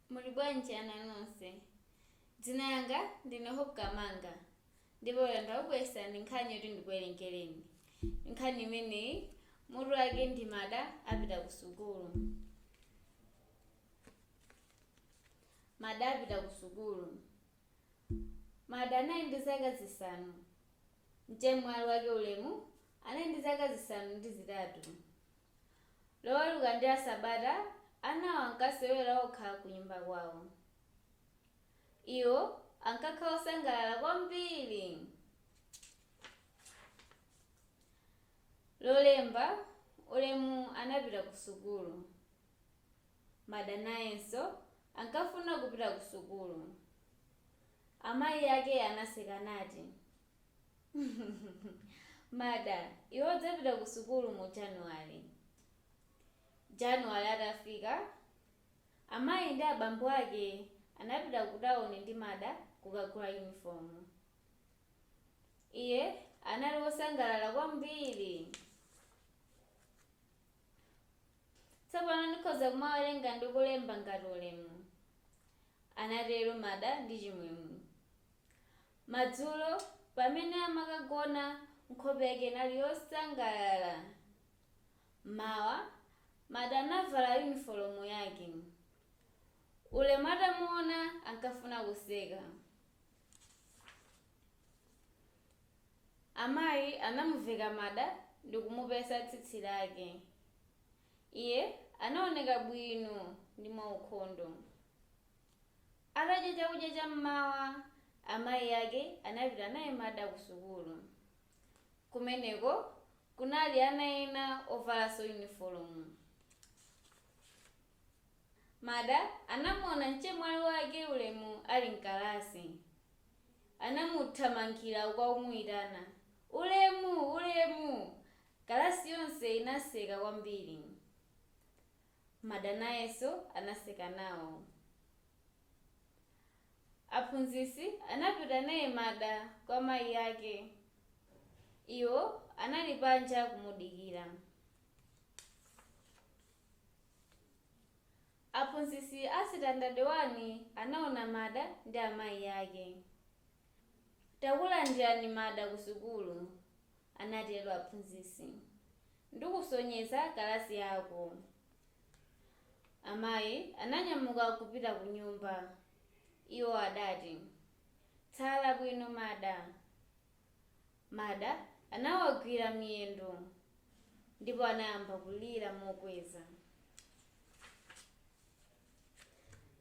muli bwanji ana nonse dzina langa ndine hope kamanga ndipo lero ndakubweretserani nkhani yoti ndikuwerengereni nkhani imeneyi mutu wake ndi mada apita ku sukulu mada apita ku sukulu mada anali ndi zaka zisanu mchemwali wake ulemu anali ndi zaka zisanu ndi zitatu Loweruka ndi Lasabata anawo ankasewera okha kunyumba kwawo. Iwo ankakhala osangalala kwambiri. Lolemba, Ulemu anapita kusukulu. Mada nayenso ankafuna kupita kusukulu. Amayi ake anaseka nati, Mada, iwe udzapita ku sukulu mu Januwale. Januwale atafika, amayi ndi abambo ake anapita ku tawuni ndi Mada kukagula yunifomu. Iye anali wosangalala kwambiri. Tsopano ndikhoza kumawerenga ndi kulemba ngati Ulemu, anatero Mada ndi chimwemwe. Madzulo pamene amakagona nkhope yake inali yosangalala. M'mawa, Mada anavala yunifolomu yake. Ulemu atamuona ankafuna kuseka. Amayi anamuveka Mada ndi kumupesa tsitsi lake. Iye anaoneka bwino ndi mwaukhondo. Atadya chakudya cha m'mawa, amayi ake anapita naye Mada kusukulu. Kumeneko kunali ana ena ovalanso yunifolomu. Mada anamuona mchemwali wake Ulemu ali m'kalasi. Anamuthamangira uku akumuitana, Ulemu! Ulemu! Kalasi yonse inaseka kwambiri. Mada nayenso anaseka nawo. Aphunzitsi anapita naye Mada kwa mayi ake. Iwo anali panja kumudikira. Aphunzitsi a sitandade wani anaona Mada ndi amayi ake. Takulandirani Mada kusukulu. anatero aphunzitsi. Ndikusonyeza kalasi yako. Amayi ananyamuka kupita kunyumba. Iwo adati, Tsala bwino, Mada. Mada anawagwira miyendo ndipo anayamba kulira mokweza.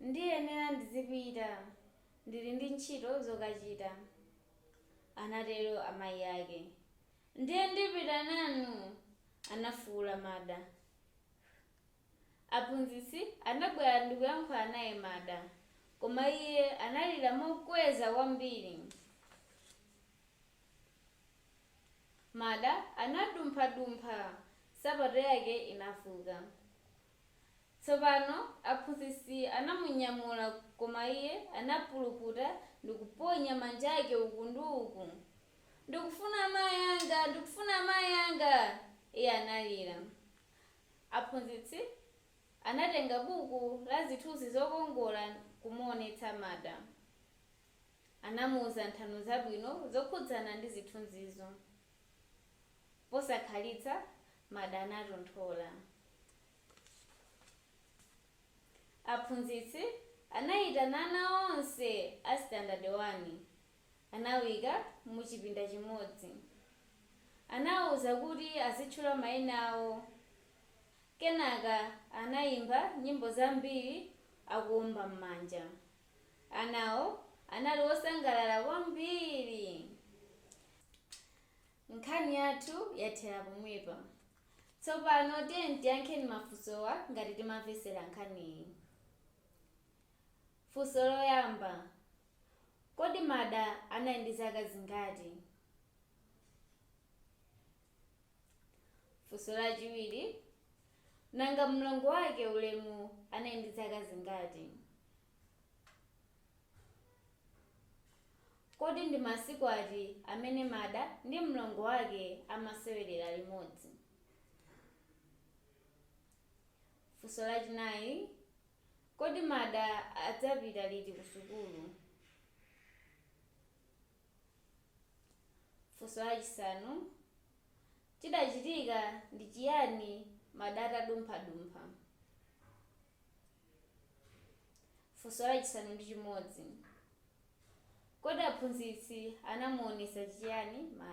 Ndiyenera ndizipita. Ndili ndi ntchito zokachita. Anatero amayi ake. Ndiye ndipita nanu! Anafuula Mada. Aphunzitsi anabwera ndikuyankhula naye Mada, koma iye analira mokweza kwambiri. Mada anadumphadumpha, nsapato yake inavuka. Tsopano aphunzitsi anamunyamula, koma iye anapuluputa ndi kuponya manja ake uku ndi uku. Ndikufuna amayi anga! Ndikufuna amayi anga! iye analira. Aphunzitsi anatenga buku la zithunzi zokongola n'kumuonetsa Mada. Anamuuza nthano zabwino zokhudzana ndi zithunzizo. Posakhalitsa, Mada anatonthola. Aphunzitsi anaitana ana onse a sitandade wani. Anawaika mu chipinda chimodzi. Anawauza kuti azitchula maina awo. Kenaka anaimba nyimbo zambiri akuomba m'manja. Anawo anali osangalala kwambiri. Nkhani yathu yathera pomwepa. Tsopano tiyeni tiyankheni mafunsowa ngati timamvetsera nkhaniyi. Funso loyamba, kodi Mada anali ndi zaka zingati? Funso lachiwiri, nanga mlongo wake Ulemu anali ndi zaka zingati? Kodi ndi masiku ati amene Mada ndi mlongo wake amasewerera limodzi? Funso lachinayi Kodi Mada adzapita liti kusukulu? Funso lachisanu Chidachitika ndi chiyani Mada atadumphadumpha? Funso lachisanu ndi chimodzi, Kodi aphunzitsi anamuonetsa chiyani Mad.